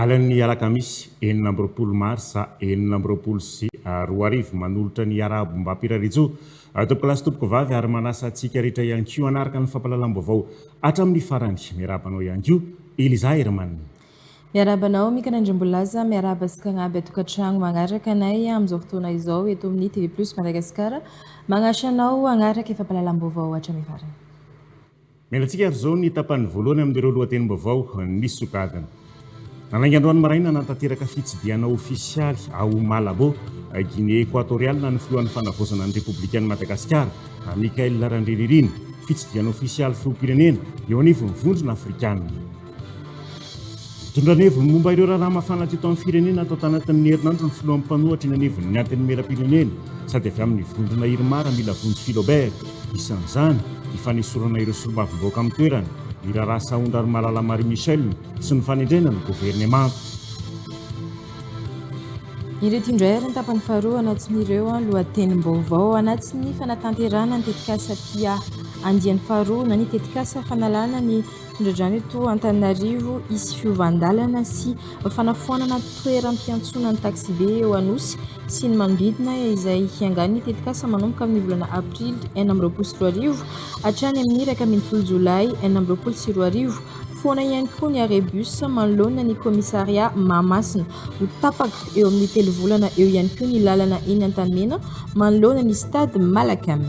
Alin'ny alakamisy enina amby roapolo marsa enina amby roapolo sy roa arivo, manolotra ny Iarahabom-bapirarijo Tompoko lahy sy Tompoko vavy ary manasa antsika rehetra ihany koa hanaraka ny fampahalalam-baovao hatramin'ny farany. Miarahaba anao ihany koa Eliza Herman. Miarahaba anao Mika Randriambolaza, miarahaba sy kagnaby an-tokantragno magnaraka anay amin'izao fotoana izao eto amin'ny TV Plus Madagasikara. Magnasy anao hagnaraka fampahalalam-baovao hatramin'ny farany. Nialantsika ary izao ny tapany voalohany amin'ireo lohatenim-baovao nisokadina. Nalainga androany maraina hanatanteraka fitsidihana ofisialy ao Malabo, Guinée Ekoatoriala ny filohan'ny Fanavaozana ny Repoblikan'i Madagasikara, Michaël Randrianirina. Fitsidihana ofisialy filoham-pirenena eo anivon'ny Vondrona Afrikanina. Nitondra ny heviny momba ireo raharaha mafana teto amin'ny firenena tao tanatin'ny herinandro ny filohan'ny mpanohatra eny anivon'ny Antenimierampirenena sady avy amin'ny vondrona Irmar Amila Vonjy Philobert, isan'izany ny fanesorana ireo solombavambahoaka amin'ny toerana, ny raharaha sahondra ry Malala Marie Michelle sy ny fanendrena ny governemanta. Ireto indray ary ny tapany faharoa anatin'ireo lohatenim-baovao anatin'ny fanatanterahana ny tetikasa PIAH andiany faharoa na ny tetikasa fanalana ny Tondra-drano eto Antananarivo hisy fiovan-dalana sy fanafoanana toeram-piantsonan'ny taksibe eo Anosy sy ny manodidina izay hiangan'ny tetikasa manomboka amin'ny volana aprily enina amby roapolo sy roa arivo hatrany amin'ny iraika ambin'ny folo jolay enina amby roapolo sy roa arivo. Foana ihany koa ny arrêt bus manoloana ny kaomisaria Mahamasina. Ho tapaka eo amin'ny telo volana eo ihany koa ny lalana eny Antanimena manoloana ny stade Malacam.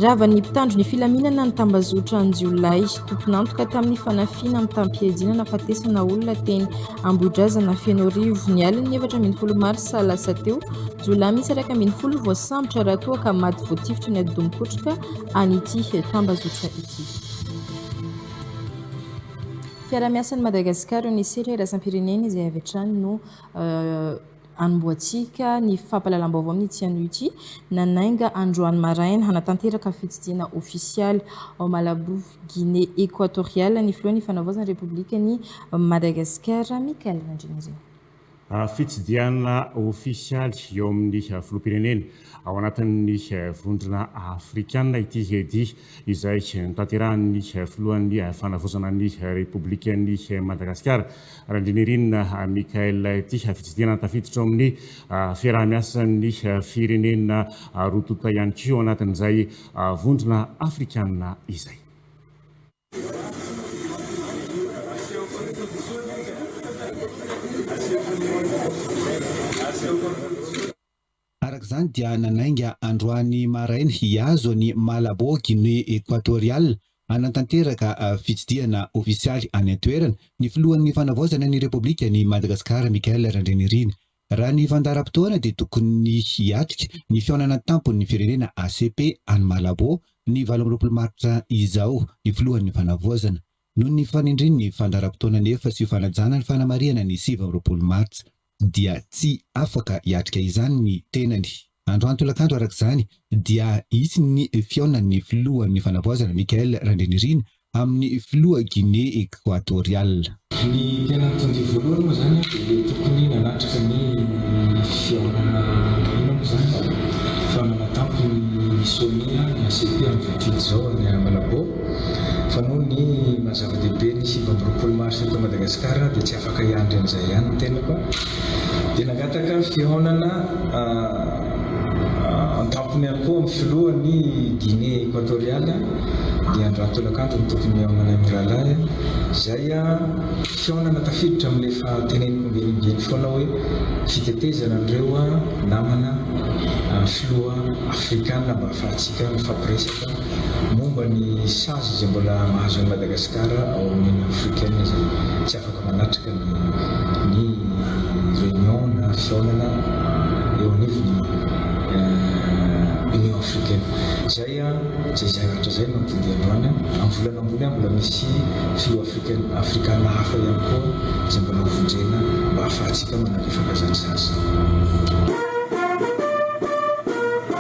Ravan'ny mpitandro ny filaminana ny tambazotra an-jiolahy, tompon'antoka tamin'ny fanafiana mitam-pihejiana nafatesana olona teny Ambohidrazana Fenoarivo, ny alin'ny efatra ambin'ny folo marsa lasa teo. Jiolahy miisa iraika ambin'ny folo no voasambotra raha toa ka maty voatifitra ny atidoha-mikotroka an'ity tambazotra ity. Fiaraha-miasan'i Madagasikara eo ny sehatra iraisam-pirenena izay avy hatrany no Anombohantsika ny fampahalalam-baovao amin'ny CNUJ nanainga androany maraina hanatanteraka fitsidihana ofisialy ao Malabo, Guinée Equatoriale ny filohan'ny Fanavaozana ny Repoblikan'i Madagasikara, Michaël Randrianirina. Fitsidihana ofisialy eo amin'ny filoham-pirenena. Ao anatin'ny Vondrona Afrikana ity dia izay notanterahin'ny Filohan'ny Fanavaozana ny Repoblikan'i Madagasikara, Randrianirina Michaël ity fitsidihana tafiditra ao amin'ny fiaraha-miasan'ny firenena roa tonta ihany koa ao anatin'izay Vondrona Afrikana izay. Araka izany dia nanainga androany maraina hihazo an'i Malabo, Guinée Equatoriale, hanantanteraka fitsidihana ofisialy any an-toerana, ny filohan'ny Fanavaozana ny Repoblikan'i Madagasikara, Michael Randrianirina. Raha ny fandaharam-potoana dia tokony hiatrika ny fihaonana an-tampon'ny firenena, ACP, any Malabo, ny valo amby roapolo martsa izao, ny filohan'ny Fanavaozana. Noho ny fanindrin'ny fandaharam-potoana anefa sy ho fanajana ny fanamarihana ny sivy amby roapolo martsa, dia tsy afaka hiatrika izany ny tenany. Androany tolakandro araka izany dia hisy ny fihaonan'ny filohan'ny fanavaozana Michael Randrianirina amin'ny filoha Guinée Equatoriale. Ny tena mitondrìa voalohany moa izany dia ilay tokony nanatrika ny fihaonana ino moa izany fa manatampy ny sommet ny ACP amin'izao didy izao any Malabo. Fa noho ny maha zava-dehibe ny sivy amby roapolo marsa eto Madagasikara dia tsy afaka hiandry an'izay ihany ny tenako dia nangataka fihaonana an-tampony ihany koa amin'ny filohan'i Guinée Equatoriale dia andro aty tolakandro no tokony hihaonana amin'ny rahalahy izay fihaonana tafiditra amin'ilay efa teneniko ombieny ombieny foana hoe fitetezana an'ireo namana filoha afrikana mba hahafahantsika mifampiresaka Momba ny sazy izay mbola mahazo an'i Madagasikara ao amin'ny Union Africaine izay tsy afaka manatrika ny ny réunion na fihaonana eo anivon'ny Union Africaine. Izay izay izay ratra izay no nampivonjy androany. Amin'ny volana ambony any mbola misy filoha Africaine Afrikana hafa ihany koa izay mbola hovonjena mba hahafahantsika manalefaka izany sazy.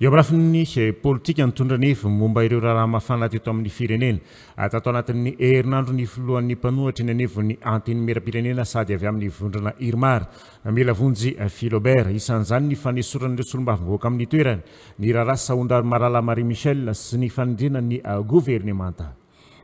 Eo amin'ny lafiny politika, nitondra ny heviny momba ireo raharaha mafana teto amin'ny firenena, tato anatin'ny herinandro ny filohan'ny mpanohitra eny anivon'ny Antenimierampirenena sady avy amin'ny vondrona Irmar, Milavonjy Philobert. Isan'izany ny fanesoran'ireo solombavambahoaka amin'ny toerany, ny raharaha sahondrano Marala Marie Michelle sy ny fanendrena ny governemanta.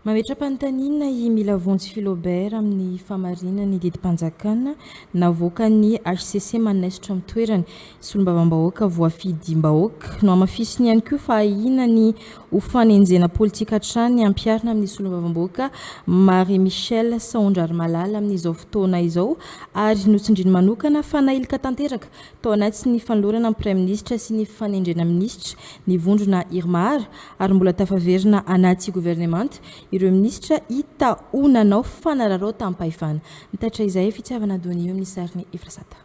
Mametra-panontaniana i Milavonjy Philobert amin'ny fahamarinany ny didim-panjakana navoakan'ny hcc manaisotra amin'ny toerany. Solombavambahoaka voafidim-bahoaka. Nohamafisiny ihany koa fa ahiana ny ho fanenjehana politika hatrany ampiharina amin'ny solombavambahoaka Marie Michelle Saondrarimalala amin'izao fotoana izao ary notsindriny manokana fa nailika tanteraka Tao anatin'ny fanolorana ny Praiminisitra sy ny fanendrena minisitra ny vondrona Irmar ary mbola tafaverina anaty governemanta ireo minisitra hita ho nanao fanararaotam-pahefana. Nitatitra izay Fitiavana Donio amin'ny sarin'i Efrasata.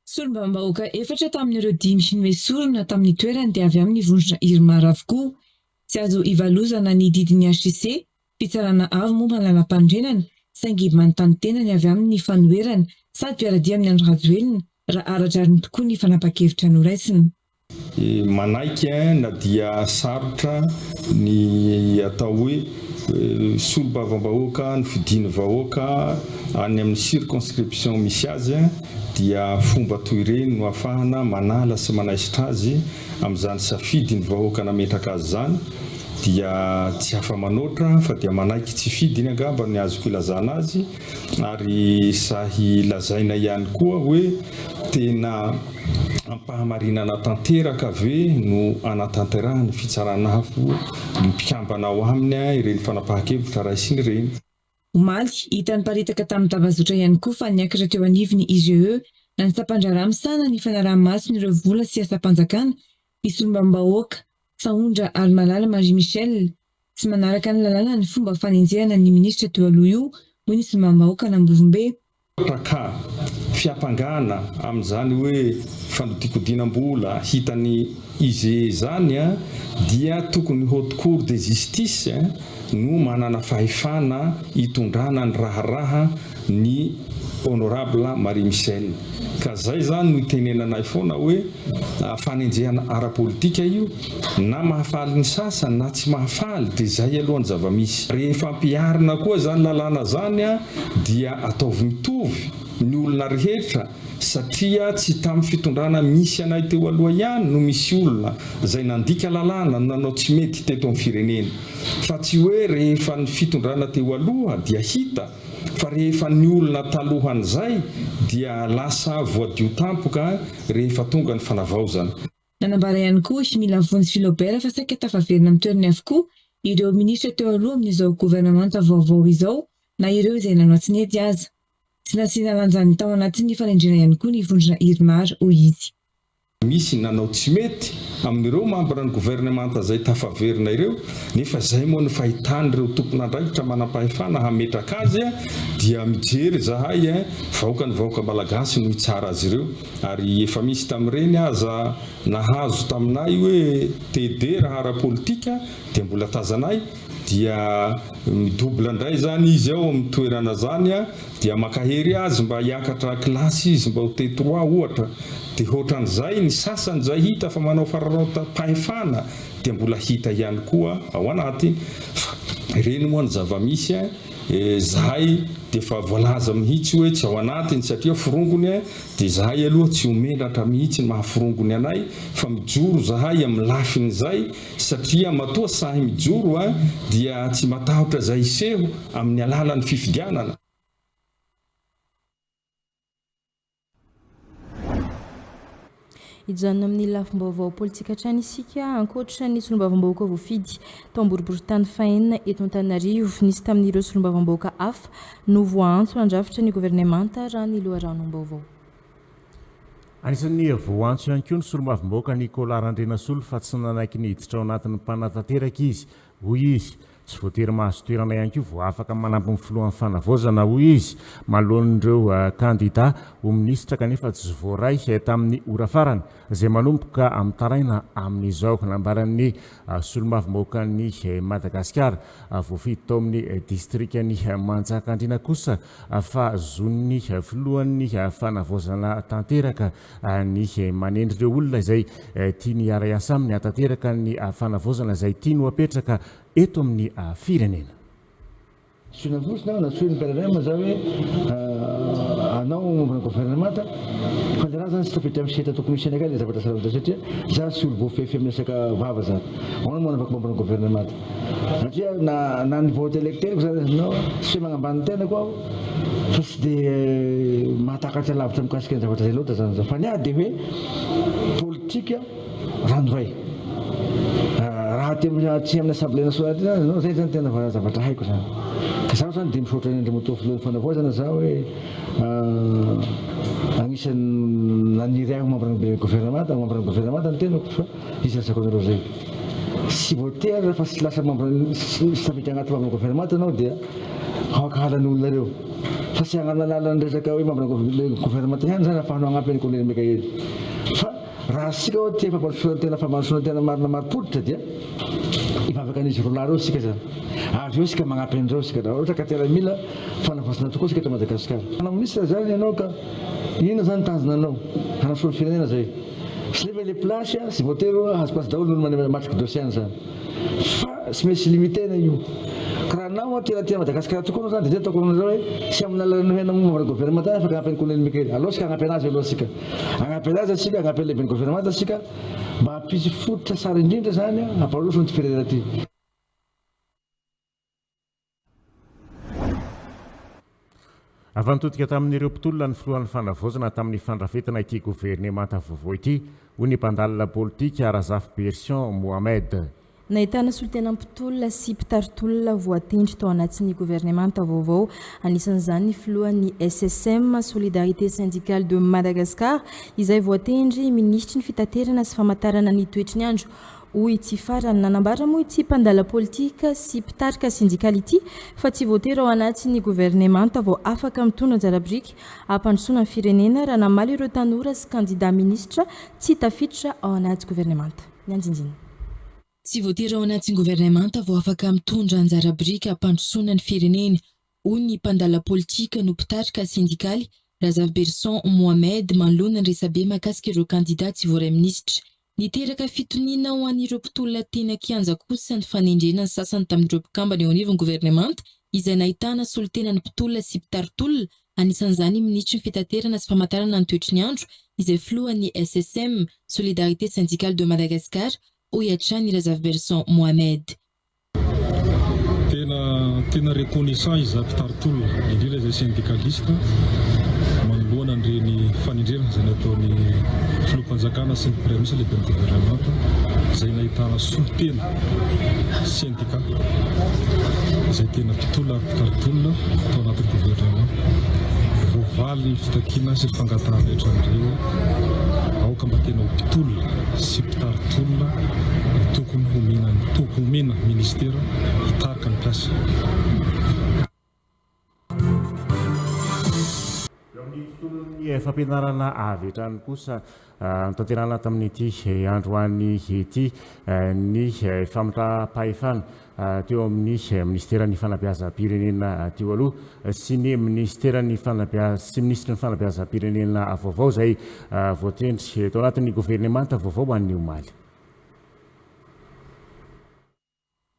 Solombavambahoaka efatra tamin'ireo dimy noesorina tamin'ny toerany dia avy amin'ny vondrona Irmar avokoa. Tsy azo ivalozana ny didin'ny HCC Fitsarana avo momba ny lalampanorenana saingy manontany tena ny avy amin'ny fanoherana sady mpiara-dia amin'i Andry Rajoelina raha ara-drariny tokoa ny fanapan-kevitra noraisina. Manaiky eh na dia sarotra ny atao hoe solombavambahoaka ny fidian'ny vahoaka any amin'ny circonscription misy azy dia fomba toy ireny no afahana manala sy manaisotra azy amin'izany safidy ny vahoaka nametraka azy izany dia tsy afa-manoatra fa dia manaiky tsy fidy iny angamba ny azoko ilazana azy ary sahy lazaina ihany koa hoe tena ampahamarinana tanteraka ve no anatanterahan'ny fitsarana avo ny mpikambana ao aminy ireny fanapahan-kevitra raisiny ireny. Omaly, hita niparitaka tamin'ny tambazotra ihany koa fa niakatra teo anivon'ny IGE na ny sampandraharaha misahana ny fanaraha-maso ny ireo vola sy asam-panjakana i solombavambahoaka Sahondra Halimalala Marie Michelle, tsy manaraka ny lalàna ny fomba fanenjehana ny minisitra teo aloha io, hoy ny solombavambahoakan'Ambovombe. Paka, fiampangana amin'izany hoe fanodikodinam-bola hitan'i Ize izany dia tokony Haute Cour de Justice no manana fahefana hitondrana ny raharaha ny Honorable Marie Michelle ka zay zany no itenenanay foana hoe fanenjehana ara-politika io na mahafaly ny sasany na tsy mahafaly dia zay aloha ny zava-misy. Rehefa ampiharina koa zany lalàna zany dia ataovy mitovy ny olona rehetra satria tsy tamin'ny fitondrana misy anay teo aloha ihany no misy olona zay nandika lalàna no nanao tsy mety teto amin'ny firenena fa tsy hoe rehefa ny fitondrana teo aloha dia hita Fa rehefa ny olona talohan'izay dia lasa voadio tampoka rehefa tonga ny fanavaozana. Nanambara ihany koa i Mila Vonjy Philobert fa saika tafaverina amin'ny toerany avokoa ireo minisitra teo aloha amin'izao governemanta vaovao izao na ireo izay nanao tsy nety aza. Tsy nasiana lanjany tao anatin'ny fanendrena ihany koa ny vondrona Irmar, hoy izy. Misy nanao tsy mety amin'ireo mambran'ny governemanta izay tafaverina ireo, nefa izay moa no fahitan'ireo tompon'andraikitra manampahefana hametraka azy a! dia mijery izahay e! vahoaka ny vahoaka malagasy no hitsara azy ireo ary efa misy tamin'ireny aza nahazo taminay hoe TD raha ara-politika dia mbola tazanay dia mi double ndray zany izy ao amin'ny toerana zany a, dia mankahery azy mba hiakatra kilasy izy mba ho T trois ohatra, dia ohatran'izay ny sasany izay hita fa manao fararaotam-pahefana dia mbola hita ihany koa ao anatiny, fa ireny moa ny zava-misy a, zahay dia efa voalaza mihitsy hoe tsy ao anatiny satria forongony a, dia zahay aloha tsy ho menatra mihitsy ny maha forongony anay fa mijoro zahay amin'ny lafin'izay satria matoa sahy mijoro dia tsy matahotra izay hiseho amin'ny alalan'ny fifidianana. Hijanona amin'ny lafim-baovao politika hatrany isika, ankoatra ny solombavambahoaka voafidy tao am-boriborintany fahenina eto Antananarivo, nisy tamin'ireo solombavambahoaka hafa no voaantso handrafitra ny governemanta, raha ny loharanom-baovao. Anisan'ny voantso ihany koa ny solombavambahoaka Nicolas Randrianasolo fa tsy nanaiky ny hiditra ao anatin'ny mpanatanteraka izy, hoy izy. Tsy voatery mahazo toerana ihany koa vao afaka manampy ny filohan'ny fanavaozana, hoy izy, manoloan'ireo kandida ho minisitra kanefa tsy voaray tamin'ny ora farany izay manomboka mitaraina amin'izao. Nambaran'ny solombavambahoakan'i Madagasikara voafidy tao amin'ny distrikan'i Manjakandriana kosa ahafahazoan'ny filohan'ny fanavaozana tanteraka ny manendry ireo olona izay tiany hiara-hiasa aminy hahatanteraka ny fanavaozana izay tiany ho apetraka eto amin'ny firenena. Tsy nandositra aho na tsy hoe ni-PRRM za hoe hanao mouvement governemanta fa ny raha zany tsy tafiditra amin'ny sehatra tokony hisianay akany ilay zavatra sarobidy satria za tsy olo-voafehifehy amin'ny resaka vava zany. Ahoana moa hanavako mouvement governemanta? Satria na na ny vote electeriko zany izy aminao tsy hoe magnambany ny tenako aho fa tsy de mahatakatra lavitra mikasika ny zavatra zay loatra zany za fa ny ahy de hoe politika ranoray raha aty am aty aminy assemblée nationale aty zany ianao zay zany tena va zavatra haiko zany ka zaho zany de misaotra any Andriamatoa Filohan'ny Fanavaozana za hoe agnisan'ny naniry ahy ho membre ny gouvernemanta membre ny gouvernemanta ny tenako fa Hisasako anareo zay. Tsy voatery rehefa tsy lasa membre tsy tafiditra anaty membre government ianao dia hankahala ny olona reo. Fa tsy hananala ny resaka hoe membre government ihany zany afahanao hagnampy an'i Kolonely Mikaely. Fa raha tsika oa tia fampandrosoana tena fampandrosoana tena marina marim-pototra dia hivavaka an'izy roa lahy reo tsika zany. Avy eo tsika magnampy an'ireo tsika raha ohatra ka tena mila fanavaozana tokoa tsika eto Madagasikara. Minisitra zany ianao ka inona zany tanjona anao? Hanasoa ny firenena zay. Zay ve le place a, tsy voatery oa hahazo place daholo ny mane matriko dossier any zany fa tsy maintsy limitena io ka raha anao oa tena tia an'i Madagasikara tokoa anao zany de zay ataoko aminareo oe tsy amin'ny alalan'ny nohena momban'ny governemanta afaka hanampy an'i Colonel Mikael aleo tsika hanampy anazy aloha tsika hanampy anazy tsika hanampy an'i lehiben'ny governemanta tsika mba hampisy fototra tsara indrindra zany a hamparoso an'ity firenena ty. Avy nitodika tamin'ireo mpitolona ny filohan'ny fanavaozana tamin'ny fandrafetana ity governemanta vaovao ity, hoy ny mpandalina politika, Razafiberison Mohamed. Nahitana solontena mpitolona sy mpitari-tolona voatendry tao anatin'ny governemanta vaovao, anisan'izany ny filohan'ny SSM, Solidarité Syndicale de Madagascar, izay voatendry minisitry ny fitaterana sy famantarana ny toetry ny andro hoy ity farany. Nanambara moa ity mpandala politika sy mpitarika sendikaly ity fa tsy voatery ao anatin'ny governemanta vao afaka mitondra anjara biriky hampandrosoana ny firenena raha namaly ireo tanora sy kandida minisitra tsy tafiditra ao anaty governemanta nianjinjina. Tsy voatery ao anatin'ny governemanta vao afaka mitondra anjara biriky hampandrosoana ny firenena, hoy ny mpandala politika no mpitarika sendikaly, Razafiberison Mohamed, manoloana ny resabe mahakasika ireo kandida tsy voaray minisitra. Niteraka fitoniana ho an'ireo mpitolona teny an-kianja kosa ny fanendrena ny sasany tamin'ireo mpikambana eo anivon'ny governemanta izay nahitana solontenan'ny mpitolona sy mpitari-tolona, anisan'izany ny minisitry ny Fitaterana sy Famatarana ny toetry ny andro, izay filohan'ny SSM, Solidarité Syndicale de Madagascar, hoy hatrany Razafiberson Mohamed. Tena tena reconnaissant izaho mpitari-tolona, indrindra izay syndicaliste, manoloana an'ireny fanendrena izay nataon'ny Filoham-panjakana sy ny Praiminisitra Lehiben'ny Governemanta izay nahitana solontena sendika izay tena mpitolona ary mpitari-tolona tao anatin'ny governemanta. Voavaly ny fitakiana sy ny fangatahana rehetra an'ireo aoka mba tena ho mpitolona sy Tari-tolona no tokony homena ny to homena ministera hitarika ny mpiasa. Eo amin'ny tontolon'ny fampianarana avy hatrany kosa, notanterahana tamin'ity androany ity ny fametraham-pahefana teo amin'ny Minisiteran'ny Fanabeazam-pirenena teo aloha sy ny Minisiteran'ny Fanabeaz sy Minisitry ny Fanabeazam-pirenena vaovao izay voatendry tao anatin'ny governemanta vaovao an'ny omaly.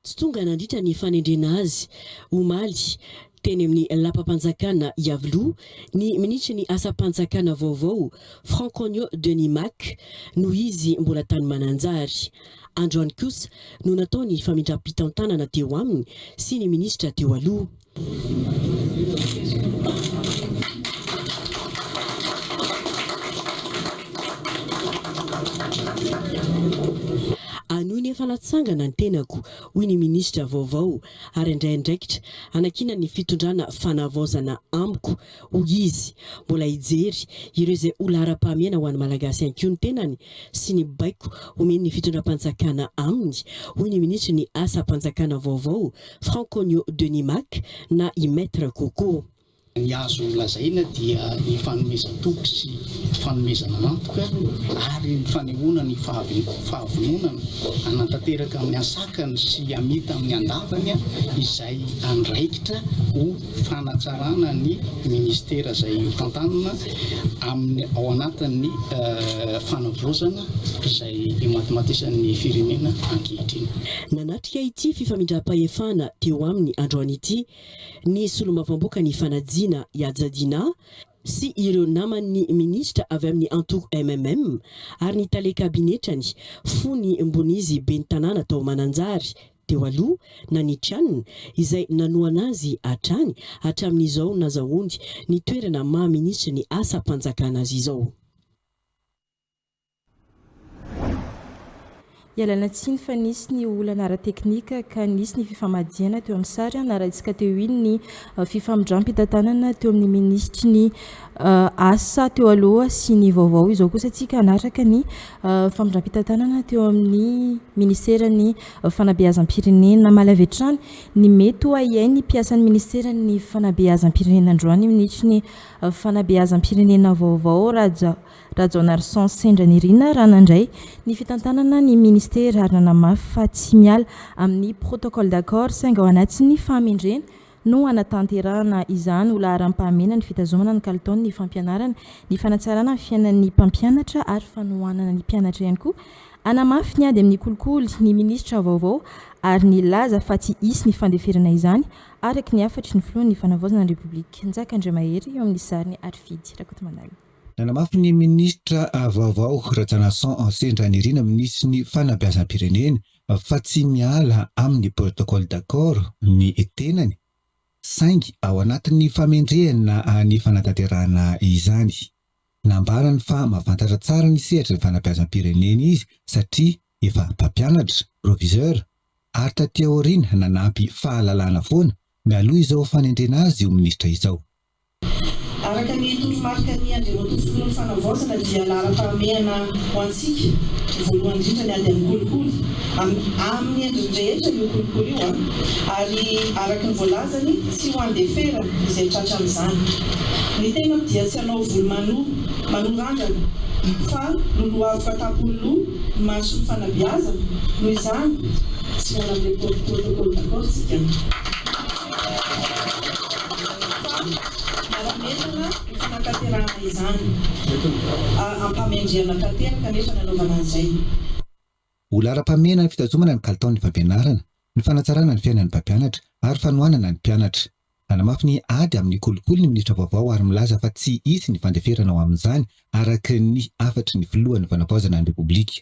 Tsy tonga nandritra ny fanendrena azy omaly. Teny amin'ny lapam-panjakana Iavoloha, ny minisitry ny asam-panjakana vaovao, Franconio Denis Mac, noho izy mbola tany Mananjary. Androany kosa no natao ny famindram-pitantanana teo aminy sy ny minisitra teo aloha. Anio ny efa natsangana ny tenako, hoy ny minisitra vaovao. ary handray andraikitra hanakiana ny fitondrana fanavaozana amiko, hoy izy. Mbola hijery ireo izay ho laharam-pahamehana ho an'ny Malagasy ihany koa ny tenany sy ny baiko omen'ny fitondram-panjakana aminy, hoy ny minisitry ny Asam-panjakana vaovao, Franconio Denis Mack na i Maître Coco. Ny azo nolazaina dia ny fanomezan-toky sy fanomezana antoka ary ny fanehoana ny fahavononana hanantanteraka amin'ny asakany sy hamita amin'ny andavany izay andraikitra ho fanatsarana ny Ministera izay hotantanina amin'ny ao anatin'ny fanavaozana izay imatimatisan'ny firenena ankehitriny. Nanatrika ity fifamindram-pahefana teo aminy androany ity Ny solombavambaoka ny fanajiana i Hajadinah sy ireo naman'ny minisitra avy amin'ny antoko MMM ary ny tale kabinetrany fony mbon'izy ben'ny tanàna tao Mananjary teo aloha na ny tranony izay nanohana azy hatrany hatramin'izao nazahoany ny toerana maha minisitry ny asam-panjakana azy izao. Ialana tsiny fa nisy ny olana ara-teknika ka nisy ny fifamadihana teo amin'ny sary. Narahintsika teo iny ny fifamindram-pitantanana teo amin'ny minisitry ny asa teo aloha sy ny vaovao. Izao kosa tsika hanaraka ny fifamindram-pitantanana teo amin'ny minisiteran'ny fanabeazam-pirenena. Namaly avy hatrany ny mety ho ahiahin'ny mpiasan'ny minisiteran'ny fanabeazam-pirenena androany ny minisitry ny fanabeazam-pirenena vaovao Raja Rajaonarison sendra nirina raha nandray ny fitantanana ny ministera ary nanamafy fa tsy miala amin'ny protocole d'accord saingy ao anatin'ny fahamendrena no hanatanterahana izany ho laharam-pahamena ny fitazomana ny kalitaon'ny fampianarana, ny fanatsarana ny fiainan'ny mpampianatra ary fanohanana ny mpianatra ihany koa. Hanamafy ny ady amin'ny kolikoly ny minisitra vaovao ary nilaza fa tsy hisy ny fandeferana izany araka ny hafatry ny filohan'ny fanavaozana ny Repoblika, Njaka Andriamahery eo amin'ny sariny ary Fidy Rakotomandala. Nanamafy ny minisitra vaovao Rajaonarison Hanse Ndranirina minisitry ny fanabeazam-pirenena fa tsy miala amin'ny protocole d'accord ny tenany saingy ao anatin'ny famendrehana ny fanatanterahana izany. Nambarany fa mahafantatra tsara ny sehatry ny fanabeazam-pirenena izy satria efa mpampianatra, proviseur, ary taty aoriana nanampy fahalalana foana mialoha izao fanendrena azy ho minisitra izao. Araka ny toromarika ny Andriamatoa Filohan'ny Fanavaozana dia laharam-pahamehana ho antsika ny voalohany indrindra ny ady amin'ny kolikoly amin'ny amin'ny endriny rehetra io kolikoly io an! ary araka ny voalazany tsy ho andefera izay tratra amin'izany. Ny tenako dia tsy hanao volo mano manorandrana fa lolohaviko an-tampony loha ny marisy ny fanabeazana noho izany tsy manam-protocole d'accord tsika. Milaza fa manametana ny fanatanterahana izany. Ampamendrehana tanteraka anefa ny anaovana an'izay. Ho laharam-pahamehana ny fitazomana ny kalitaon'ny fampianarana, ny fanatsarana ny fiainan'ny mpampianatra ary fanohanana ny mpianatra. Nanamafy ny ady amin'ny kolikoly ny minisitra vaovao ary milaza fa tsy hisy ny fandeferana ho amin'izany araka ny hafatry ny filohan'ny Fanavaozana ny Repoblika.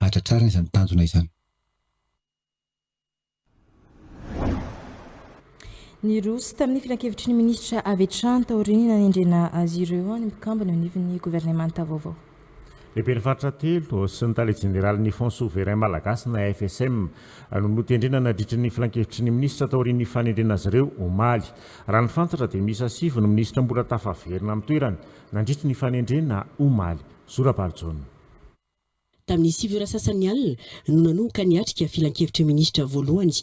hahatratrarana izany tanjona izany. Niroso tamin'ny filankevitry ny minisitra avy hatrany taorian'ny nanendrena azy ireo ny mpikambana eo anivon'ny governemanta vaovao. Lehiben'ny faritra telo sy ny tale jeneralin'ny Fonds Souverain Malagasy na FSM no notendrena nadritry ny filankevitry ny minisitra taorian'ny fanendrena azy ireo omaly. Raha ny fantatra dia miisa sivy ny minisitra mbola tafaverina amin'ny toerany nandritry ny fanendrena omaly. Zora Balijaona. Tamin'ny sivy ora sasany alina no nanomboka niatrika filankevitra minisitra voalohany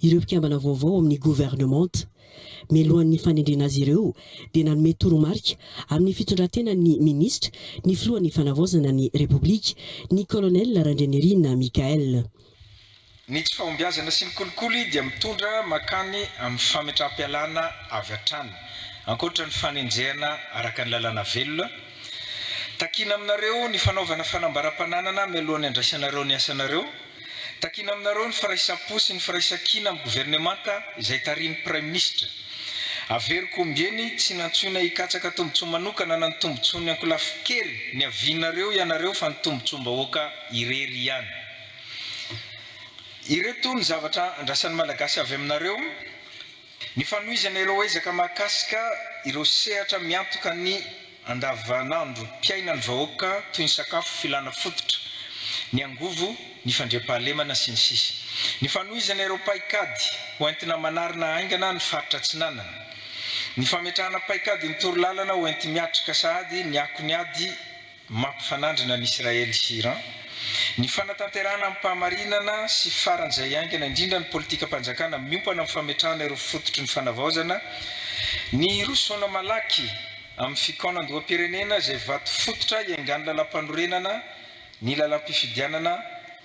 ireo mpikambana vaovao ao amin'ny governemanta. Mialohan'ny fanendrena azy ireo dia nanome toromarika amin'ny fitondran-tenan'ny minisitra ny filohan'ny Fanavaozana ny Repoblika, ny Colonel Randrianirina Michaël. Ny tsy fahombiazana sy ny kolikoly dia mitondra mankany amin'ny fametraham-pialana avy hatrany, ankoatra ny fanenjehana araka ny lalàna velona. Takiana aminareo ny fanaovana fanambaram-pananana mialohan'ny handraisanareo ny asanareo. Takiana aminareo ny firaisam-po sy ny firaisan-kina amin'ny governemanta izay tarihin'ny Praiminisitra. Averiko ombieny, tsy nantsoina hikatsaka tombontsoa manokana na ny tombontsoan'ny ankolafin-kery niavianareo ianareo fa ny tombontsoam-bahoaka irery ihany. Ireto ny zavatra andrasan'ny Malagasy avy aminareo, ny fanohizana ireo ezaka mahakasika ireo sehatra miantoka ny andavanandrom-piainan'ny vahoaka toy ny sakafo, filàna fototra, ny angovo, ny fandriampahalemana, sy ny sisa Ny fanohizana ireo paikady hoentina manarina haingana ny faritra Atsinanana Ny fametrahana paikadin'ny torolalana hoenti-miatrika sahady ny akon'ny ady mampifanandrina an'i Israely sy Iran, ny fanatanterahana amim-pahamarinana sy faran'izay haingana indrindra ny politikam-panjakana miompana amin'ny fametrahana ireo fototry ny fanavaozana, ny hirosoana malaky amin'ny fikaonandoham-pirenena izay vato fototra hiaingan'ny lalampanorenana, ny lalam-pifidianana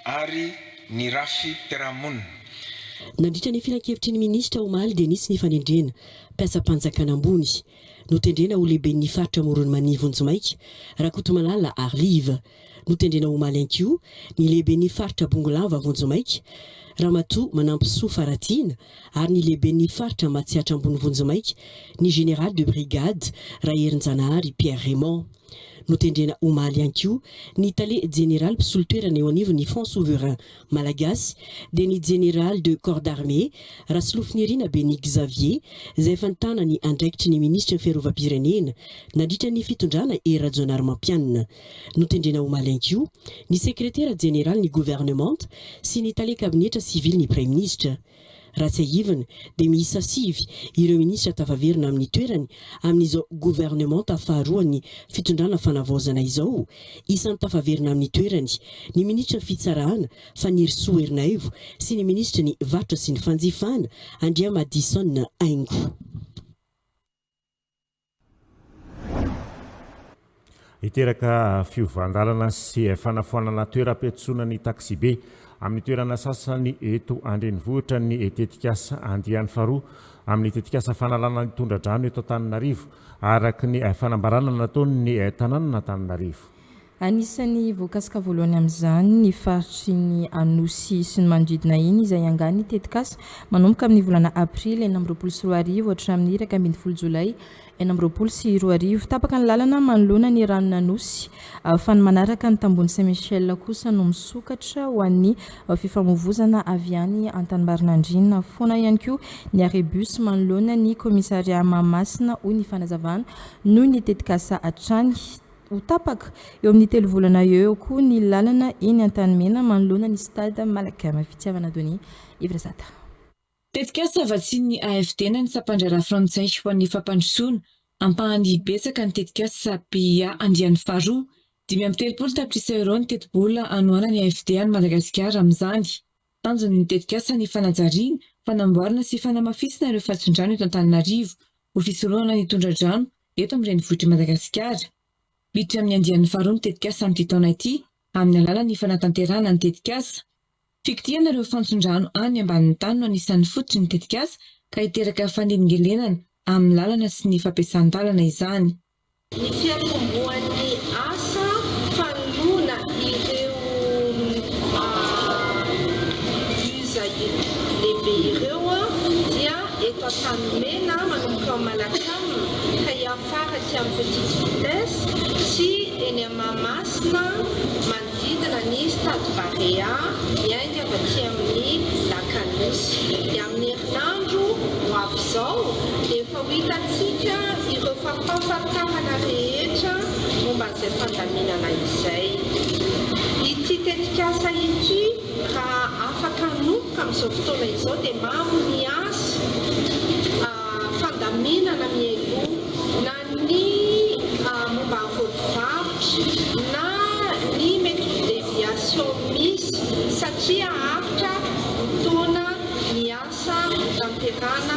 ary ny rafi-piarahamonina. Nandritra ny filankevitry ny minisitra omaly dia nisy ny fanendrena mpiasam-panjakana ambony. Notendrena ho lehiben'ny faritra Amoron'i Mania vonjimaika, Rakotomalala Arlive. Notendrena omaly ihany koa ny lehiben'ny faritra Bongolava vonjimaika, Ramatoa Manampisoa Faratiana ary ny lehiben'ny faritra Matsiatra Ambony vonjimaika, ny Général de brigade Raherinjanahary Pierre Raymond. Notendrena omaly ihany koa ny tale jeneraly mpisolo toerana eo anivon'ny Fonds souverain Malagasy dia ny Jeneraly de Corps d'Armée, Rasolofonirina Beny Xavier, izay efa nitana ny andraikitry ny Minisitry ny Fiarovam-pirenena nandritra ny fitondrana Hery Rajaonarimampianina. Notendrena omaly ihany koa ny Sekretera Jeneralin'ny Governemanta sy ny Tale Kabinetra Sivilin'ny Praiminisitra. Raha tsiahivina dia miisa sivy ireo minisitra tafaverina amin'ny toerany amin'izao governemanta faharoan'ny fitondrana fanavaozana izao. Isan'ny tafaverina amin'ny toerany ny minisitra fitsarana Fanirisoa Ernaivo sy ny minisitry ny varotra sy ny fanjifana Andriamadison Haingo. Hiteraka fiovan-dalana sy fanafoanana toeram-piantsonana ny taksibe amin'ny toerana sasany eto an-drenivohitra ny tetikasa andiany faharoa amin'ny tetikasa fanalana ny tondra-drano eto Antananarivo, araka ny fanambarana nataon'ny tanànan'Antananarivo. Anisan'ny voakasika voalohany amin'izany ny faritry ny Anosy sy ny manodidina iny izay hiangàny ny tetikasa manomboka amin'ny volana aprily enina amby roapolo sy roa arivo hatramin'ny iraika ambin'ny folo jolay enina amby roapolo sy roa arivo. Tapaka ny lalana manoloana ny ranon'Anosy fa ny manaraka ny tambohon'i Saint Michel kosa no misokatra ho an'ny fifamoivozana avy any Antanimbarinandriana foana ihany koa ny arrêt bus manoloana ny commissariat Mahamasina hoy ny fanazavana noho ny tetikasa hatrany ho tapaka eo amin'ny telo volana eo eo koa ny lalana eny Antanimena manoloana ny Stade Malacam. Fitiavana Denis Evrazata. Tetikasa vatsian'ny AFD na ny Sampandraharaha Frantsay ho an'ny Fampandrosoana, ampahany betsaka ny tetikasa PIA andiany faharoa. Dimy amby telopolo tapitrisa euro ny tetibola anohanan'ny AFD an'i Madagasikara amin'izany. Tanjon'ny ny tetikasa ny fanajariana, fanamboarana sy fanamafisana ireo fatsin-drano eto Antananarivo ho fisorohana ny tondra-drano eto amin'ny renivohitr'i Madagasikara. Miditra amin'ny andiany faharoa ny tetikasa amin'ity taona ity amin'ny alalan'ny fanatanterahana ny tetikasa fikitihana ireo fantson-drano any ambanin'ny tany no anisan'ny fototry ny tetikasa ka hiteraka fanelingelenana amin'ny lalana sy ny fampiasan-dalana izany. Ny fiantombohan'ny asa fanoloana ireo bus lehibe ireo dia eto Antanimena manomboka ao Manakam ka hiafara aty amin'ny Petite Vitesse sy eny Mahamasina. Manodidina ny Stade Barea, miainga avy aty amin'ny Lac à Nosy. Ny amin'ny herinandro ho avy izao dia efa ho hitantsika ireo fampahafantarana rehetra momba an'izay fandaminana izay. Ity tetikasa ity raha afaka hanomboka amin'izao fotoana izao dia maro ny asa fandaminana mialoha. ny momba ny vodi-barotra na ny mety ho deviation misy satria haharitra ny taona ny asa hotanterahana.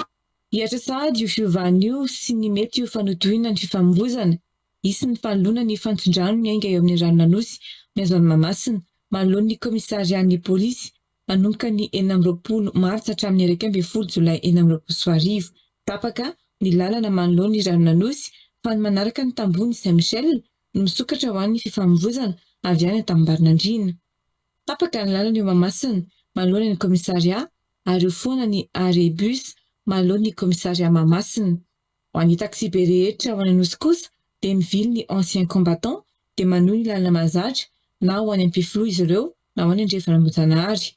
Hihatra sahady io fiovana io sy ny mety ho fanotohina ny fifamovoizana. Hisy ny fanoloana ny fantson-drano miainga eo amin'ny ranon'Anosy mihazo an'i Mahamasina manoloan'ny kaomisarian'ny polisy nanomboka ny enina amby roapolo martsa hatramin'ny iraika ambin'ny folo jolay enina amby roapolo sy roa arivo. Tapaka ny lalana manoloana ny ranon'Anosy fa ny manaraka ny tambohon'i Saint Michel no misokatra ho an'ny fifamoivoizana avy any Antamimbarinandriana. Tapaka ny lalana eo Mahamasina manoloana ny kaomisarià ary ho foana ny arrêt bus manoloan'ny kaomisarià Mahamasina. Ho an'ny taxibe rehetra ao an'Anosy kosa dia mivily ny anciens combattants dia manohy ny lalana mahazatra na ho any Ampifiloha izy ireo na ho any Andrefan'Ambojanahary.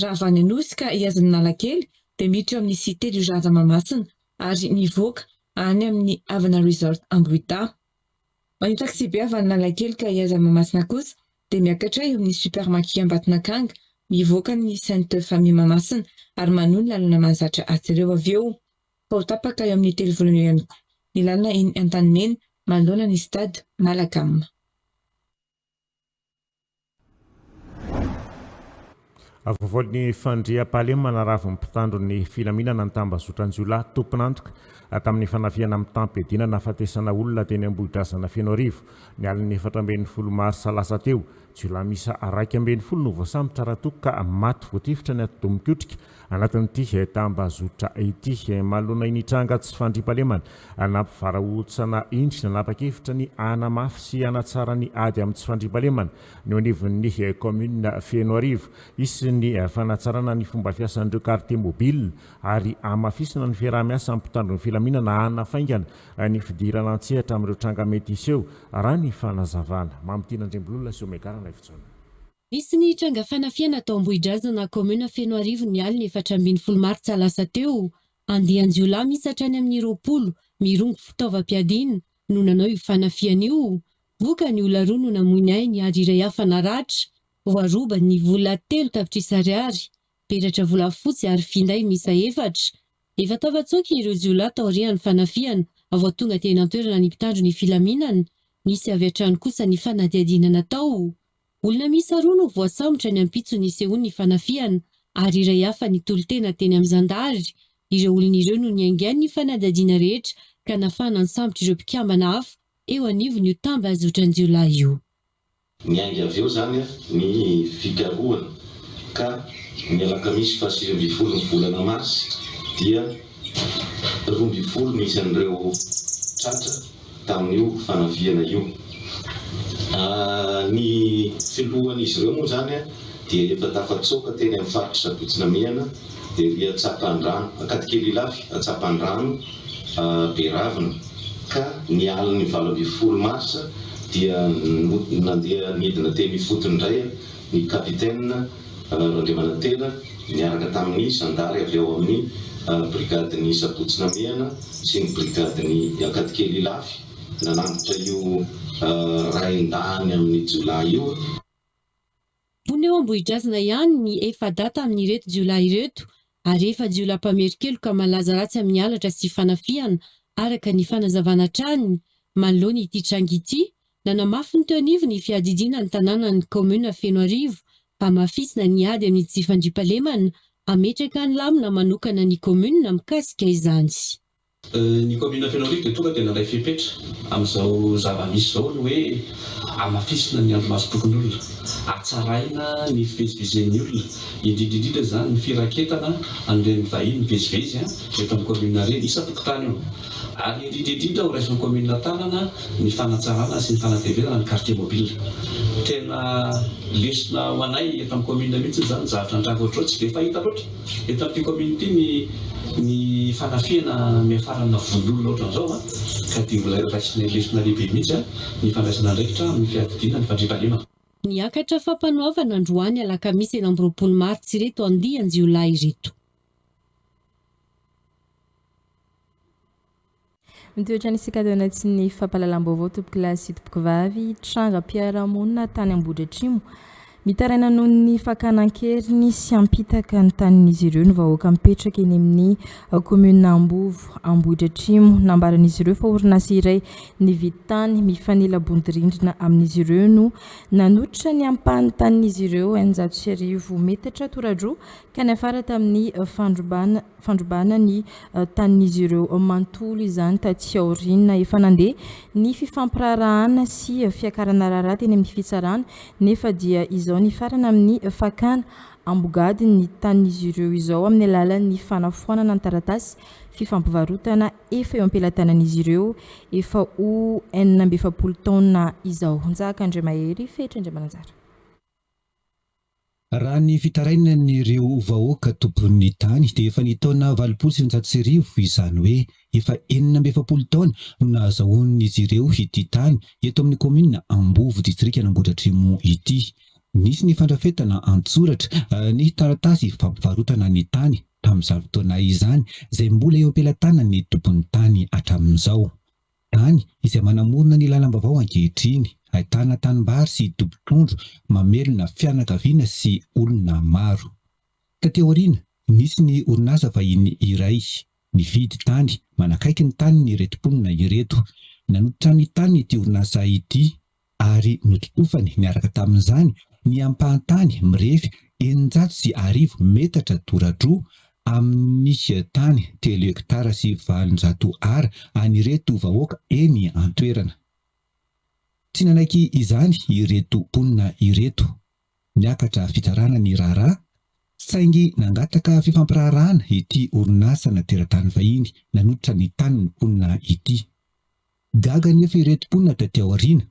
Raha avy any Anosy ka hihaza an'Analakely dia miditra eo amin'ny Cité du Jardin Mahamasina ary mivoaka any amin'ny Havana Resort Ambohidahy. Ho an'ny taxibe avy any Analakely ka hihaza an'i Mahamasina kosa dia miakatra eo amin'ny Super Maki Ambatonakanga mivoaka ny Sainte Famille Mahamasina ary manohy ny lalana mahazatra atsy ireo avy eo. Vao tapaka eo amin'ny telo volana eo ihany koa ny lalana eny Antanimena manoloana ny Stade Malacam. Avovoan'ny fandriampahalemana ravin'ny mpitandro ny filaminana ny tambazotran-jiolahy tompon'antoka tamin'ny fanafihana mitam-piadiana nahafatesana olona teny Ambohidrazana Fenoarivo, ny alin'ny efatra ambin'ny folo marsa lasa teo. Jiolahy miisa iraika ambin'ny folo no voasambotra ara-toko ka maty voatifitra ny atidoha mikotrika Anatin'ity tambazotra ity, manoloana iny tranga tsy fandriampahalemana nampivarahotsana iny, nanapa-kevitra ny hanamafy sy hanatsara ny ady amin'ny tsy fandriampahalemana ny eo anivon'ny kaominina Fenoarivo. Hisy ny fanatsarana ny fomba fiasan'ireo quartier mobile ary hamafisina ny fiaraha-miasa amin'ny mpitandro ny filaminana hanafaingana ny fidirana an-tsehatra amin'ireo tranga mety hiseho, raha ny fanazavana. Mamitiana Andriambolola sy Omegarana Ivotsona. Nisy ny tranga fanafihana tao Ambohidrazana, kaominina Fenoarivo ny alin'ny efatra ambin'ny folo martsa lasa teo. Andian-jiolahy miisa hatrany amin'ny roapolo, mirongo fitaovam-piadiana, no nanao io fanafihana io. Vokany, olona roa no namoy ny ainy ary iray hafa naratra. Voaroba ny vola telo tapitrisa ariary, peratra volafotsy ary finday miisa efatra. Efa tafatsoaka ireo jiolahy taorian'ny fanafihana vao tonga teny an-toerana ny mpitandro ny filaminana. Nisy avy hatrany kosa ny fanadihadiana natao. Olona miisa roa no voasambotra ny ampitso nisehoan'ny fanafihana ary iray hafa nitolo-tena teny amin'ny zandary. Ireo olona ireo no niaingan'ny fanadihadiana rehetra ka nafahana nisambotra ireo mpikambana hafa eo anivon'io tambazotran-jiolahy io. Niainga avy eo izany ny fikarohana ka ny alakamisy fahasivy ambin'ny folo ny volana marsa dia Roa ambin'ny folo no isan'ireo tratra tamin'io fanafihana io. Ny filohan'izy ireo moa izany dia efa tafatsoaka teny amin'ny faritr'i Sabotsy Namehana, ery an-tsapandrano, Ankadikely Ilafy, an-tsapandrano Beravina, ka ny alin'ny valo ambin'ny folo marsa dia nandeha nidina teny ifotony indray. ny Kapitena Raindriamanantena niaraka tamin'ny zandary avy ao amin'ny brigadin'ny Sabotsy Namehana sy ny brigadin'ny Ankadikely Ilafy nanambotra io rain-dahany amin'ny jiolahy io. Mponina eo Ambohidrazana ihany ny efa-data amin'ireto jiolahy ireto ary efa jiolahy mpamerin-keloka malaza ratsy amin'ny halatra sy fanafihana, araka ny fanazavana hatrany manoloana ity tranga ity Nanamafy ny teo anivon'ny fiadidiana ny tanànan'ny kaominina Fenoarivo hamafisina ny ady amin'ny tsy fandriampahalemana, hametraka ny lamina manokana ny kaominina mikasika izany. Ny kaominina Fenoarivo dia tonga dia nandray fepetra amin'izao zava-misy izao ny hoe hamafisina ny andro masom-pokonolona, hatsaraina ny fivezivezen'ny olona, indrindra indrindra izany ny firaketana an'ireny vahiny mivezivezy eto amin'ny kaominina ireny, isan-tokotany io. Ary indrindra indrindra horaisin'ny Kaominina Tanana ny fanatsarana sy ny fanateverana ny Quartier Mobile. Tena lesona ho anay eto amin'ny Kaominina mihitsy izany zavatra nitranga ohatr'izao. Tsy dia fahita loatra eto amin'ity Kaominina ity ny ny fanafihana miafarana vononolona ohatran'izao an! Ka dia ho raisinay lesona lehibe mihitsy an! ny fandraisana andraikitra amin'ny fiadidiana ny fandriampahalemana. Niakatra fampanoavana androany alakamisy enina amby roapolo martsy ireto andian-jiolahy ireto. Mitoetra ny isika taona tsy ny fampahalalam-baovao tompokolahy sy tompokovavy trangam-piarahamonina tany Ambohidratrimo. Mitaraina noho ny fakana an-keriny sy hampitaka ny tanin'izy ireo ny vahoaka mipetraka eny amin'ny kaominina Ambovo Ambohidratrimo. Nambaran'izy ireo fa orinasa iray nividy tany mifanila-bodirindrina amin'izy ireo no nanototra ny ampahany tanin'izy ireo eninjato sy arivo metatra tora-droa ka niafara tamin'ny fandrobana fandrobana ny tanin'izy ireo manontolo izany taty aoriana. Efa nandeha ny fifampiraharahana sy fiakarana raharaha teny amin'ny fitsarana nefa dia izao nifarana amin'ny fakana ambogady ny tanin'izy ireo izao amin'ny alalan'ny fanafoanana ny taratasy fifampivarotana efa eo am-pelatanan'izy ireo efa ho enina amby efapolo taona izao. Njahakan-driamahery, Fetra Andriamananjara. Raha ny fitarainan'ireo vahoaka tompon'ny tany dia efa ny taona valopolo sy eninjato sy arivo, izany hoe efa enina amby efapolo taona no nahazahoan'izy ireo ity tany eto amin'ny kaominina Ambovo distrikan'Ambohidratrimo ity. Nisy ny fandrafetana an-tsoratra ny taratasy fampivarotana ny tany tamin'izany fotoana izany izay mbola eo am-pelatanan'ny tompon'ny tany hatramin'izao. Tany izay manamorona ny lalam-baovao ankehitriny, ahitana tanimbary sy dobo trondro mamelona fianakaviana sy olona maro. Taty aoriana, nisy ny orinasa vahiny iray nividy tany manakaiky ny tanin'ireto mponina ireto. Nanototra ny taniny ity orinasa ity ary nototofany niaraka tamin'izany ny ampahan-tany mirefy eninjato sy arivo metatra toradroa amin'ny tany telo hektara sy valonjato Ar an'ireto vahoaka eny an-toerana. Tsy nanaiky izany ireto mponina ireto. Niakatra fitsarana ny raharaha, saingy nangataka fifampiraharahana ity orinasana teratany vahiny nanototra ny tanin'ny mponina ity. Gaga anefa ireto mponina taty aoriana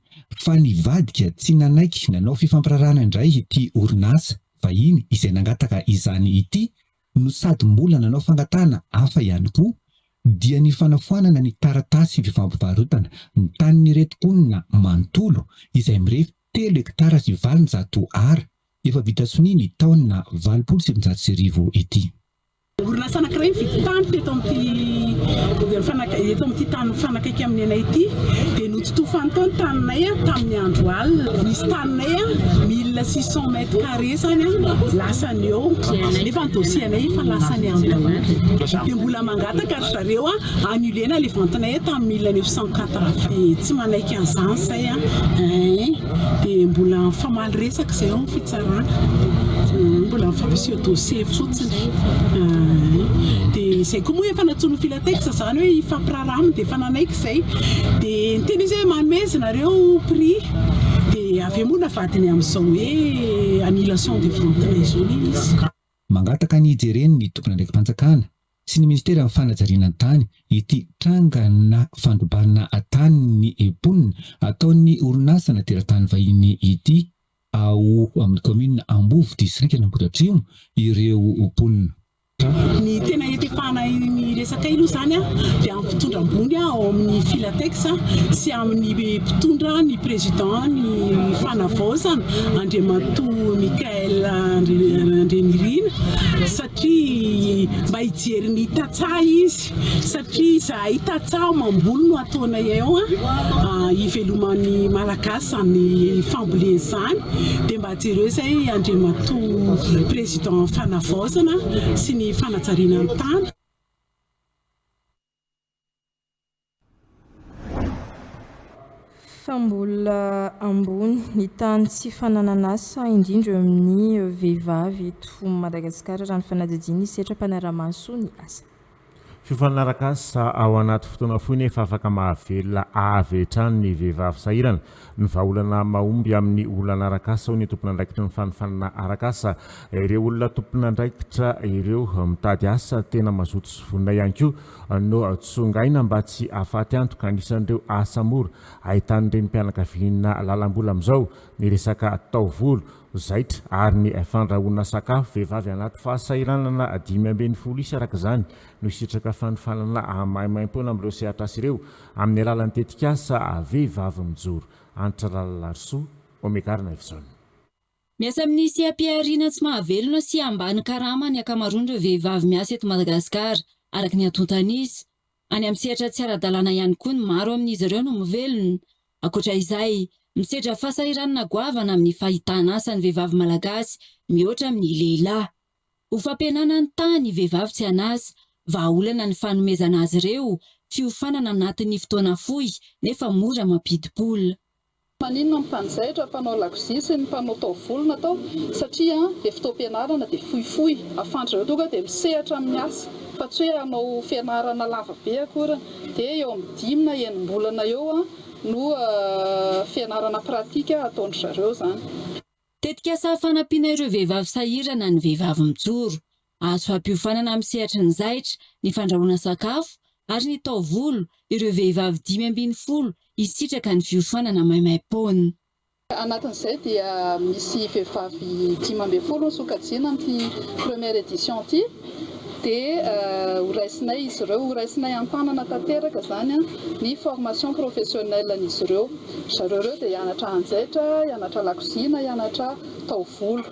fa nivadika tsy nanaiky nanao fifampiraharahana indray ity orinasa vahiny izay nangataka izany ity no sady mbola nanao fangatahana hafa ihany koa dia ny fanafoanana ny taratasy fifampivarotana ny tanin'ireto mponina manontolo izay mirefy telo hektara sy valonjato Ar efa vita sonia ny taona valopolo sy sivinjato sy arivo ity. Orinasa anankiray nividy tany teto amin'ity tany mifanakaiky amin'ny anay ity dia nototofany tao ny taninay tamin'ny andro alina. Nisy taninay mille six cent mètres carrés izany lasany eo nefa ny dossier anay efa lasany any daholo dia mbola mangataka ry zareo annuler-na ilay vente-nay tamin'ny mille neuf cent quatre dia tsy manaiky an'izany izay dia mbola mifamaly resaka izay eo ny fitsarana. Mbola fampiseho dossier fotsiny dia izay koa moa efa natsoin'ny Filatex izany hoe hifampiraharaha aminy dia efa nanaiky izay dia niteny izy hoe manome izy nareo prix dia avy eo moa navadiny amin'izao hoe annulation de vente na izao anie izy. Mangataka ny hijereny ny tompon'andraiki-panjakana sy ny ministeran'ny fanajariana ny tany ity trangana fandrobana tanin'ny mponina ataon'ny orinasana teratany vahiny ity. Ao amin'ny kaominina Ambovo, distrikan'Ambohidratrimo ireo mponina. Ny tena ietepahana iny resaka iny moa izany dia amin'ny mpitondra ambony ao amin'ny Filatex sy amin'ny mpitondra ny président ny Fanavaozana Andriamatoa Michaël Andrianirina satria mba hijery ny tantsaha izy. Satria izahay tantsaha mamboly no ataonay eo hiveloman'ny Malagasy izany fambolena izany dia mba jereo izay Andriamatoa Président Fanavaozana sy ny fanajariana ny tany. Fa mbola ambony ny tahan'ny tsy fananan'asa indrindra eo amin'ny vehivavy eto Madagasikara raha ny fanadihadian'ny sehatra mpanara-maso ny asa. Fifanaraka asa ao anaty fotoana fohy nefa afaka mahavelona avy hatrany ny vehivavy sahirana ny vahaolana mahomby amin'ny olana arak'asa hoy ny tompon'andraikitry ny fanofanana arak'asa. Ireo olona tompon'andraikitra ireo mitady asa tena mazoto sy vonona ihany koa no tsongaina mba tsy hahafaty antoka. Anisan'ireo asa mora ahitan'ny renim-pianakaviana lalam-bola amin'izao ny resaka taovolo, zaitra ary ny fandrahoana sakafo. Vehivavy anaty fahasahiranana dimy ambin'ny folo isa arak'izany no hisitraka fanofanana maimaimpoana amin'ireo sehatrasa ireo amin'ny alalan'ny tetikasa Vehivavy mijoro Antitra Ralalarisoa, Omekar Knife Zone. Miasa amin'ny seha-pihariana tsy mahavelona sy ambany karama ny ankamaroan'ireo vehivavy miasa eto Madagasikara, araka ny antontan'izy. Any amin'ny sehatra tsy ara-dalàna ihany koa ny maro amin'izy ireo no mivelona. Ankoatra izay, misedra fahasahiranana goavana amin'ny fahitan'asa ny vehivavy malagasy mihoatra amin'ny lehilahy. Ho fampihenana ny taha ny vehivavy tsy an'asa, vahaolana ny fanomezana azy ireo fiofanana anatin'ny fotoana fohy nefa mora mampidi-bola. Maninona ny mpanjaitra, mpanao lakozia sy ny mpanao taovolo natao satria dia fotoam-pianarana dia fohifohy, ahafahan'dry zareo tonga dia misehatra amin'ny asa fa tsy hoe hanao fianarana lava be akory, dia eo amin'ny dimy na enim-bolana eo no fianarana pratika ataon-dry zareo izany. Tetikasa fanampiana ireo vehivavy sahirana ny Vehivavy Mijoro. Azo hampiofanana amin'ny sehatry ny zaitra, ny fandrahoana sakafo ary ny taovolo ireo vehivavy dimy ambin'ny folo hisitraka ny fiofanana maimaim-poana. Anatin'izay dia misy vehivavy dimy ambin'ny folo no sokajiana amin'ity première édition ity. dia horaisinay izy ireo, horaisinay an-tanana tanteraka izany ny formation professionnelle-n'izy ireo. Ry zareo ireo dia hianatra hanjaitra, hianatra lakozia na hianatra taovolo.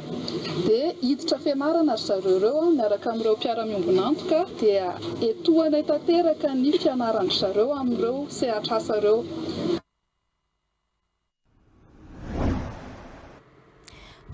Dia hiditra fianarana ry zareo ireo miaraka amin'ireo mpiara-miombon'antoka dia etohanay tanteraka ny fianaran-dry zareo amin'ireo sehatr'asa ireo.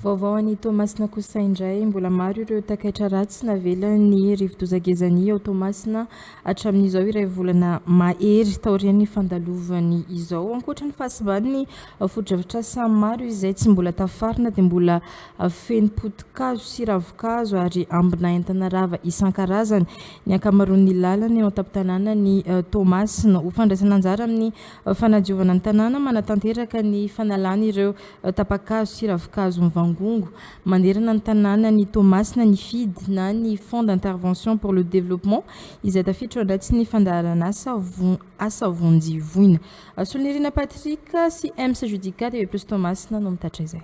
Vaovao any Toamasina kosa indray, mbola maro ireo takaitra ratsy navelan'ny rivodoza gezani ao Toamasina hatramin'izao iray volana mahery taorian'ny fandalovany izao. Ankoatra ny fahasiban'ny fotodrafitrasa maro izay tsy mbola tafarina dia mbola feno potikazo sy ravinkazo ary ambina entana rava isan-karazany ny ankamaroan'ny lalana eo an-tampon-tanànan'i Toamasina. Ho fandraisana anjara amin'ny Fanadiovana ny tanàna manatanteraka ny fanalana ireo tapa-kazo sy ravin-kazo mivangongo manerana ny tanàna ny Toamasina ny fid na ny Fonds d'intervention pour le développement izay tafiditra ao anatsin'ny fandaharan'asa asa vonjy voina. Solonirina Patrick sy Ems Judica TV plus Toamasina no mitatitra izay.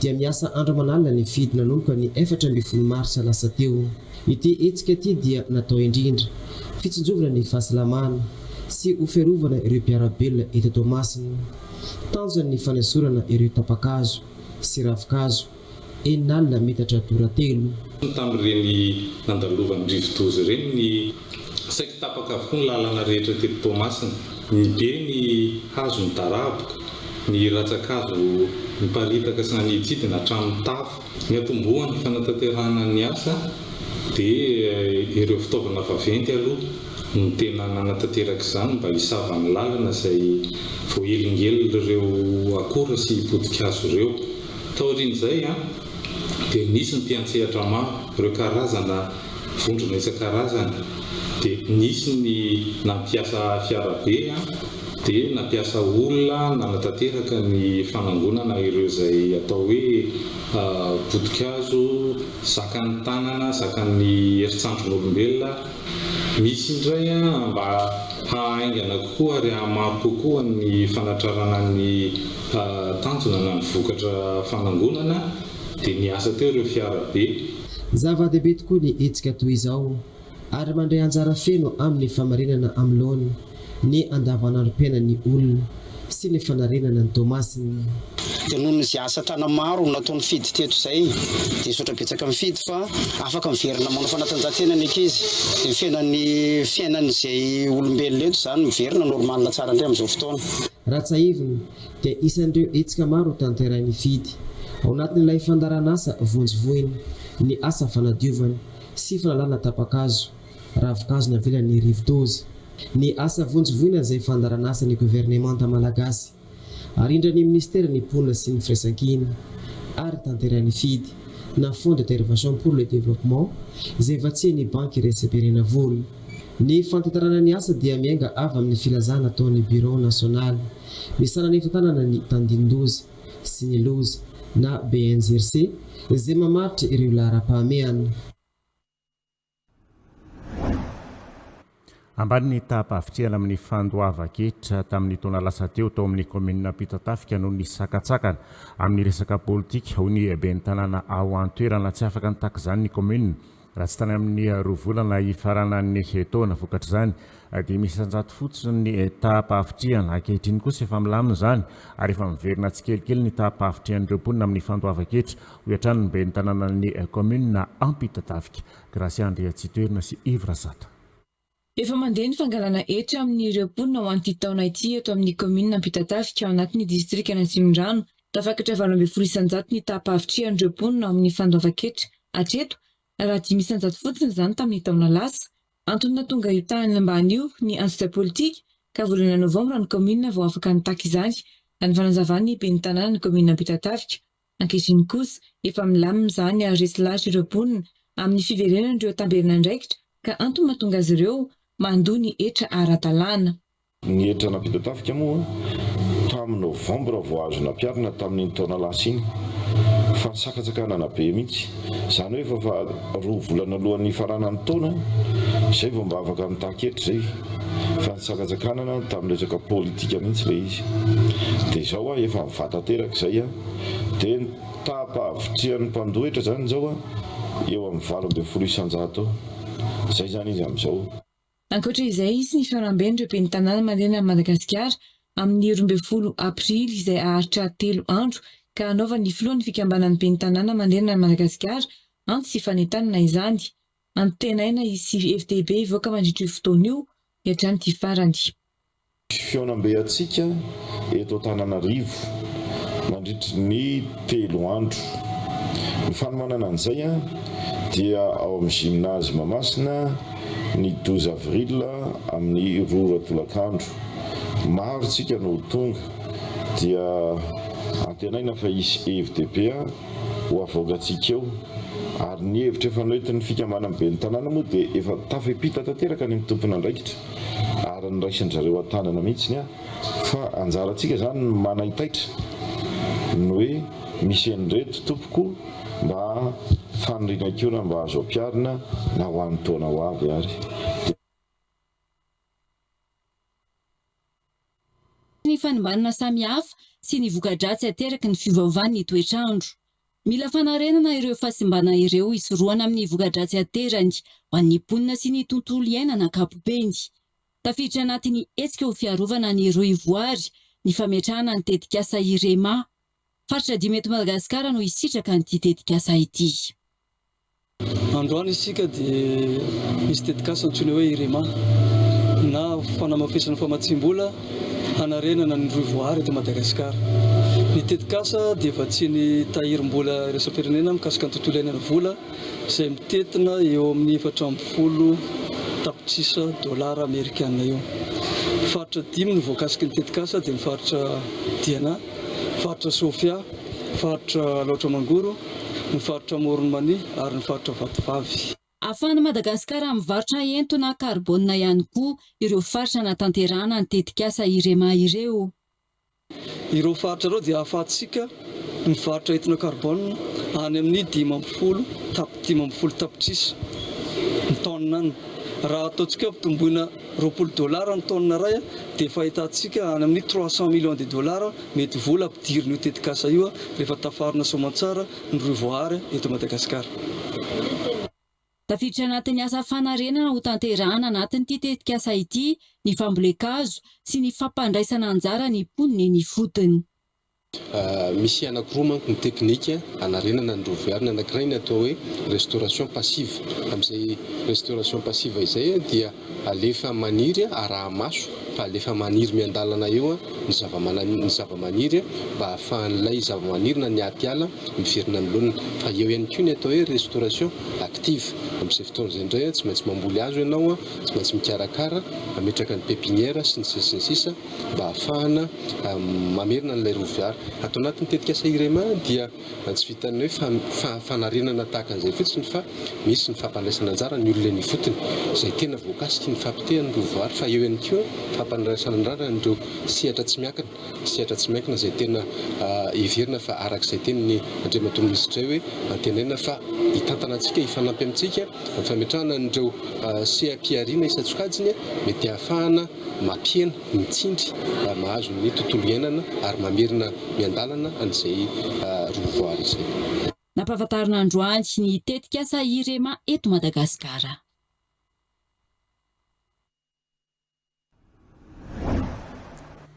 dia miasa andro aman'alina ny FIDH nanomboka ny efatra ambin'ny folo marsa lasa teo. Ity hetsika ity dia natao indrindra fitsinjovana ny fahasalamana sy ho fiarovana ireo mpiara-belona eto Toamasina. Tanjony ny fanesorana ireo tapa-kazo sy ravin-kazo enin'alina metatra tora telo. Tamin'ireny nandalovan'ny rivodoza ireny ny Saiky tapaka avokoa ny lalana rehetra teto Toamasina. Nibe ny hazo nidaraboka, ny ratsan-kazo niparitaka sy naniditsidina hatramin'ny tafo. Niantombohan'ny fanatanterahana ny asa dia ireo fitaovana vaventy aloha no tena nanatanteraka izany mba hisava ny lalana izay voahelingelin'ireo akora sy poti-kazo ireo. Taorian'izay dia nisy ny mpiantsehatra maro, ireo karazana. vondrona isan-karazany dia nisy ny nampiasa fiarabe dia nampiasa olona nanatanteraka ny fanangonana ireo izay atao hoe potikazo zakan'ny tanana, zakan'ny heritrandron'olombelona, misy indray mba hahaingana kokoa ary hahamaro kokoa ny fanatrarana ny tanjona na ny vokatra fanangonana dia niasa teo ireo fiara be. Zava-dehibe tokoa ny hetsika toy izao ary mandray anjara feno amin'ny famarinana amin'ny laoniny ny andavanandrom-piainan'ny olona sy ny fanarenana ny Toamasina. Dia noho ny asa tana maro natao nifidy teto izay dia nisaotra betsaka nifidy fa afaka miverina manao fanatanjahantena ny ankizy dia ny fiainan'ny fiainan'izay olombelona eto izany miverina normal tsara indray amin'izao fotoana. Raha tsahivina, dia isan'ireo hetsika maro ho tanterahin'ny FIDH ao anatin'ilay fandaharanasa vonjy vohiny ny asa fanadiovana sy fanalana tapa-kazo, ravin-kazo navelan'ny rivodoza. Ny asa vonjy vohina izay fandaharanasan'ny governemanta malagasy, arindran'ny minisiteran'ny Mponina sy ny Firaisankina ary tanterahin'ny FIDH na Fonds de dervation pour le développement izay vatsian'ny Banky iraisam-pirenena vola. Ny fantantarana ny asa dia miainga avy amin'ny filazana ataon'ny Birao nasionaly Misy nanefa tanana ny tandindoza sy ny loza na BNZRC izay mamaritra ireo laharam-pahamehana. Ambany ny taham-pahavitrihana amin'ny fandoavan-ketra tamin'ny taona lasa teo tao amin'ny kaominina Ampitatafika noho ny sakantsakana amin'ny resaka politika, hoy ny ben'ny tanàna ao an-toerana. Tsy afaka nitaky izany ny kaominina Raha tsy tany amin'ny roa volana hifaranan'ny taona vokatra izany dia misy isan-jato fotsiny ny taham-pahavitrihana. Ankehitriny kosa efa milamina izany ary efa miverina tsikelikely ny taham-pahavitrihan'ireo mponina amin'ny fandoavan-ketra, hoy hatrany ny ben'ny tanànan'ny kaominina Ampitatafika, Gracia Andriatsitoerina sy Yves Razata. Efa mandeha ny fangalana hetra amin'ireo mponina ho an'ity taona ity eto amin'ny kaominina Ampitatafika ao anatin'ny distrikan'Atsimondrano. Tafakatra valo ambin'ny folo isan-jato ny taham-pahavitrihan'ireo mponina ao amin'ny fandoavan-ketra hatreto raha dimy isan-jato fotsiny izany tamin'ny taona lasa. Antony nahatonga io tahan'ny ambany io ny antsika politika ka volana novambra ny kaominina vao afaka nitaky izany, raha ny fanazavan'ny ben'ny tanànan'ny kaominina Ampitatafika. Ankehitriny kosa, efa milamina izany ary resy lahatra ireo mponina amin'ny fiverenan'ireo tamberin'andraikitra ka antony mahatonga azy ireo mandoa ny hetra ara-dalàna. Ny hetra nampita tafika moa tamin'ny Novambra vao azo nampiharina tamin'iny taona lasa iny fa sakatsakanana be mihitsy. Izany hoe efa roa volana alohan'ny hifaranan'ny taona izay vao mba afaka mitaky hetra izay fa nisakatsakanana tamin'ny resaka politika mihitsy ilay izy. Dia izao aho efa mivà tanteraka izay. Dia ny taham-pahavitrihan'ny mpandoetra izany izao eo amin'ny valo ambin'ny folo isan-jato eo. Izay izany izy amin'izao. Ankoatra izay, hisy ny fanamben'ireo ben'ny tanàna mandeha an'i Madagasikara amin'ny roa ambin'ny folo aprily izay haharitra telo andro ka hanaovan'ny filohan'ny fikambanan'ny ben'ny tanàna mandeha an'i Madagasikara antso sy fanentanana izany. Antenaina hisy hevi-dehibe hivoaka mandritra io fotoana io ny hatramin'ity farany. Fihaonambe hatsiaka eto Antananarivo mandritry ny telo andro. Ny fanomanana an'izay dia ao amin'ny Gymnase Mahamasina ny douze avril amin'ny roa ora tolakandro. Maro isika no ho tonga dia antenaina fa hisy hevi-dehibe ho avoakantsika eo ary ny hevitra efa noentin'ny fikambanan'ny ben'ny tanàna moa dia efa tafepita tanteraka any amin'ny tompon'andraikitra ary niraisan-dry zareo an-tanana mihitsy ny ahy fa anjarantsika izany ny manaitaitra ny hoe misy an'ireto tompoko mba faniriana koa raha mba azo ampiharina na ho an'ny taona ho avy ary dia ny fanombanana samihafa sy ny voka-dratsy ateraky ny fiovaovan'ny toetr'andro. Mila fanarenana ireo fahasimbana ireo hisorohana amin'ny voka-dratsy aterany ho an'ny mponina sy ny tontolo iainana ankapobeny. Tafiditra anatin'ny hetsika ho fiarovana ny rohivoary ny fametrahana ny tetikasa IREMA. Faritra dimy eto Madagasikara no hisitraka an'ity tetikasa ity. Androany isika dia misy tetikasa antsoina hoe IREMA na fanamafisana famatsiam-bola hanarenana ny rohy voahary eto Madagasikara. Ny tetikasa dia vatsian'ny tahirim-bola iraisam-pirenena mikasika ny tontolo iainana vola izay mitentina eo amin'ny efatra amby folo tapitrisa dolara amerikana eo. Faritra dimy no voakasiky ny tetikasa dia ny faritra Diana, faritra Sofia, faritra Alaotra Mangoro, ny faritra Amoron'i Mania ary ny faritra Vatovavy. Ahafahan'i Madagasikara mivarotra entona karbonina ihany koa ireo faritra nahatanterahana ny tetikasa IREMA ireo. Ireo faritra ireo dia ahafahantsika mivarotra entona karbonina any amin'ny dimy ambin'ny folo tap dimy ambin'ny folo tapitrisa ny taonina any raha ataontsika ampitomboina Roapolo dollars ny tonne iray dia efa ahitantsika any amin'ny trois cents millions de dollars mety vola ampidirin'io tetikasa io rehefa tafarina soamantsara ny rohy voahary eto Madagasikara. Tafiditra anatin'ny asa fanarenana ho tanterahana anatin'ity tetikasa ity ny fambolen-kazo sy ny fampandraisana anjara ny mponina eny ifotony. Misy anankiroa manko ny teknika hanarenana ny rova iary. Ny anankiray ny atao hoe restauration passive. Amin'izay restauration passive izay dia alefa maniry, araha-maso fa alefa maniry miandalana eo ny zava-manani- ny zava-maniry mba hahafahan'ilay zava-maniry na ny aty ala miverina ny laoniny. Fa eo ihany koa ny atao hoe restauration active. Amin'izay fotoana izay indray tsy maintsy mamboly hazo ianao, tsy maintsy mikarakara, mametraka ny pepiniera sy ny sisa sy ny sisa. mba ahafahana mamerina an'ilay roa vihara. Ato anatin'ny tetikasa IREMA dia tsy vitan'ny hoe fa fanarenana tahaka an'izay fotsiny fa misy ny fampandraisana anjara ny olona eny ifotony izay tena voakasiky ny fahapotehan'ny roa vihara fa eo ihany koa fampandraisana anrara an'ireo sehatra tsy miankina sehatra tsy miankina izay tena heverina fa araka izay tenin'ny Andriamatoa Minisitra hoe antenaina fa hitantana antsika hifanampy amintsika amin'ny fametrahana an'ireo seha-pihariana isan-tsokajiny mety ahafahana mampihena, mitsindry, mahazo ny tontolo iainana ary mamerina miandalana an'izay roa voary izay. Nampahafantarina androany ny tetikasa IREMA eto Madagasikara.